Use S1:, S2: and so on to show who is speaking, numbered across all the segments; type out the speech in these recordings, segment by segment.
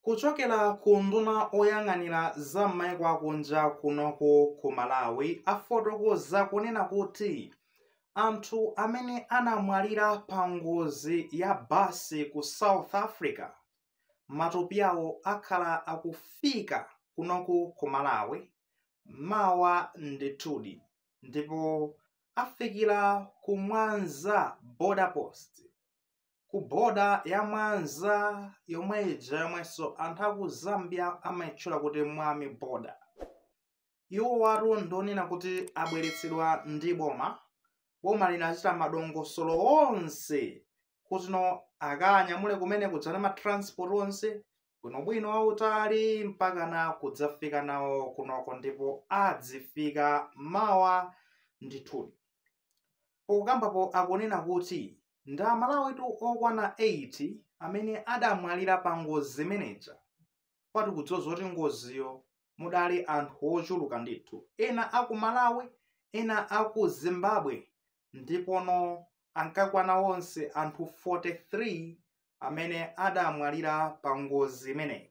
S1: kuchokera ku unduna oyang'anira za m'maiko akunja kunoko ku malawi afotokoza kunena kuti anthu amene anamwalira pa ngozi ya basi ku south africa matupi awo akhala akufika kunoku ku malawi mawa ndithudi ndipo afikira ku mwanza border post ku boda ya mwanza yomwe ija yomwenso anthu aku zambia amayitchula kuti mwami boda iwo watu ndionena kuti abweretsedwa ndi boma boma linachita madongosolo onse kutino akanyamule kumene kudzana matransport onse bwinobwino wautali mpaka na kudzafika nawo kunoko ndipo adzifika mawa ndithudi pokambapo akunena kuti Ndi Amalawitu okwana 8 amene adamwalira pangozi imeneija. Chifukwa tikudziwa zoti ngoziyo mudali anthu ochuluka ndithu, ena a ku Malawi, ena a ku Zimbabwe ndipono ankakwana onse anthu 43 amene adamwalira pangozi imeneyi.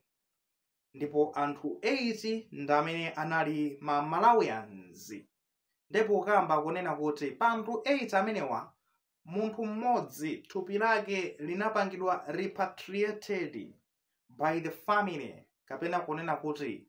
S1: Ndipo anthu 8 ndi amene anali ma Malawians. Nde pokamba kunena kuti pa anthu 8 amenewa munthu mmodzi thupi lake linapangidwa repatriated by the family kapena kunena kuti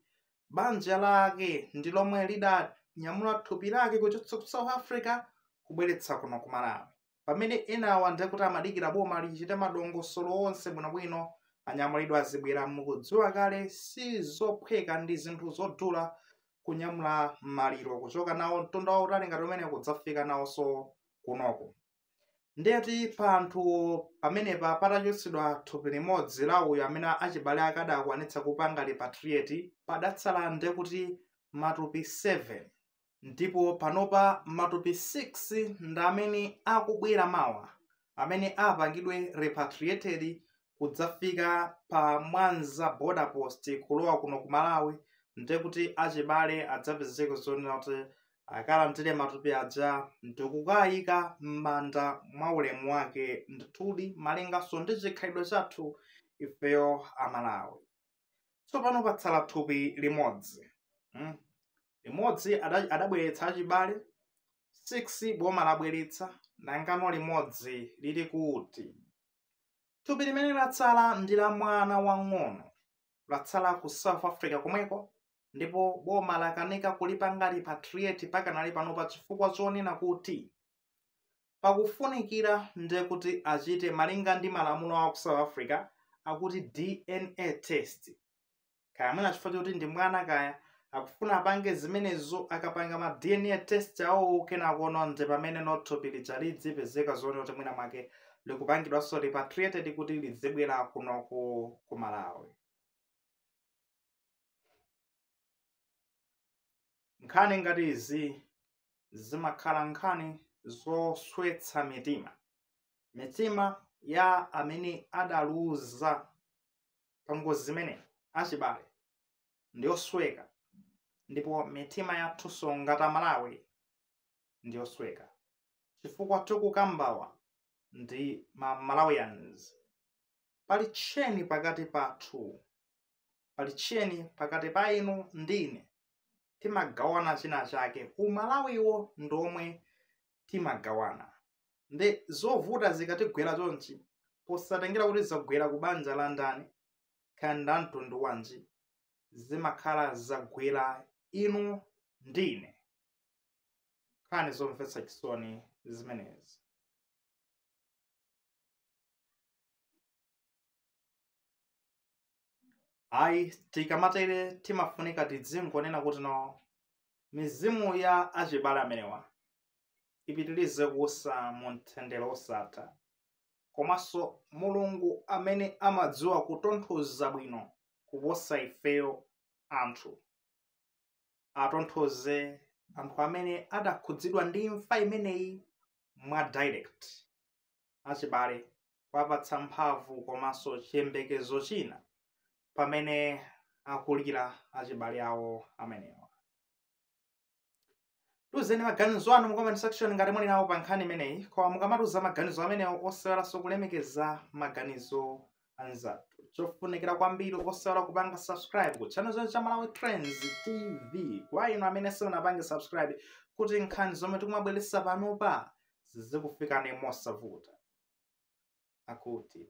S1: banja lake ndi lomwe lidanyamula thupi lake kuchotsa ku south africa kubweretsa kuno ku malawi pamene enawa ndiye kuti amadikira boma lichite madongosolo onse bwinobwino anyamulidwe azibwera mukudziwa kale si zophweka ndi zinthu zodula kunyamula maliro kuchoka nawo mtunda wautali ngati umene kudzafika nawonso kunoko ndiyeti pa anthu pamenepa patachotsedwa thupi limodzi la uyo amene achibale ake adakwanitsa kupanga repatriate padatsala nde kuti matupi 7 ndipo panopa matupi 6 ndi amene akubwera mawa amene apangidwe repatriated kudzafika pa mwanza border post kulowa kuno ku malawi ndekuti achibale adzapezeke zonena kuti akalandire matupi aja ndikukayika m'manda mwa ulemu wake ndithudi malinganso ndi chikhalidwe chathu ifeyo amalawi tsopano patsala thupi limodzi limodzi adabweretsa achibale 6 boma labweretsa nangano limodzi lili kuti thupi limene latsala ndi la mwana wang'ono latsala ku south africa komweko ndipo boma lakanika kulipanga repatriate pakanali panopa chifukwa chonena kuti pakufunikira nde kuti achite malinga ndi malamulo a ku south africa akuti dna test kaya mwina chifukwa choti ndi mwana kaya akufuna apange zimenezo akapanga ma dna test awowo kenako no nde pamene no thupi lija lidzipezeka zoona kuti mwina mwake likupangidwanso repatriated kuti lidzibwera kuno ku ku malawi nkhani ngati izi zimakhala nkhani zoswetsa mitima mitima ya amene adaluza pa ngozi imene achibale ndi yosweka ndipo mitima yathunso ngati amalawi ndi yosweka chifukwa tikukambawa ndi ma malawians pali tcheni pakati pathu pali tcheni pakati pa inu ndi ine timagawana china chake umalawiwo ndi omwe timagawana nde zovuta zikatigwera chonchi posatengera kuti zagwera ku banja la ndani kaya nda mtundu wanji zimakhala zagwera inu ndi ine nkhani zomvetsa chisoni zimenezi ayi tikamatere timafunika tidzingonena kuti no mizimu ya achibale amenewa ipitirize kuusa mu mtendere wosatha komanso mulungu amene amadziwa kutonthoza bwino kuposa ifeyo anthu atonthoze anthu amene adakhudzidwa ndi imfa imeneyi mwa direct achibale kuwapatsa mphamvu komanso chiyembekezo china pamene akulira achibale awo amenewa tiuzeni maganizo anu mu comment section ngati muli nawo pa nkhani imeneyi koma mukamatiuza maganizo amenewo osaiwalanso kulemekeza maganizo anzathu chofunikira kwambiri osaiwala kupanga subscribe ku channel chathu cha malawi trends tv kwa inu amene simunapange subscribe kuti nkhani zomwe tikumabweretsa panopa zizikufikani mosavuta akuti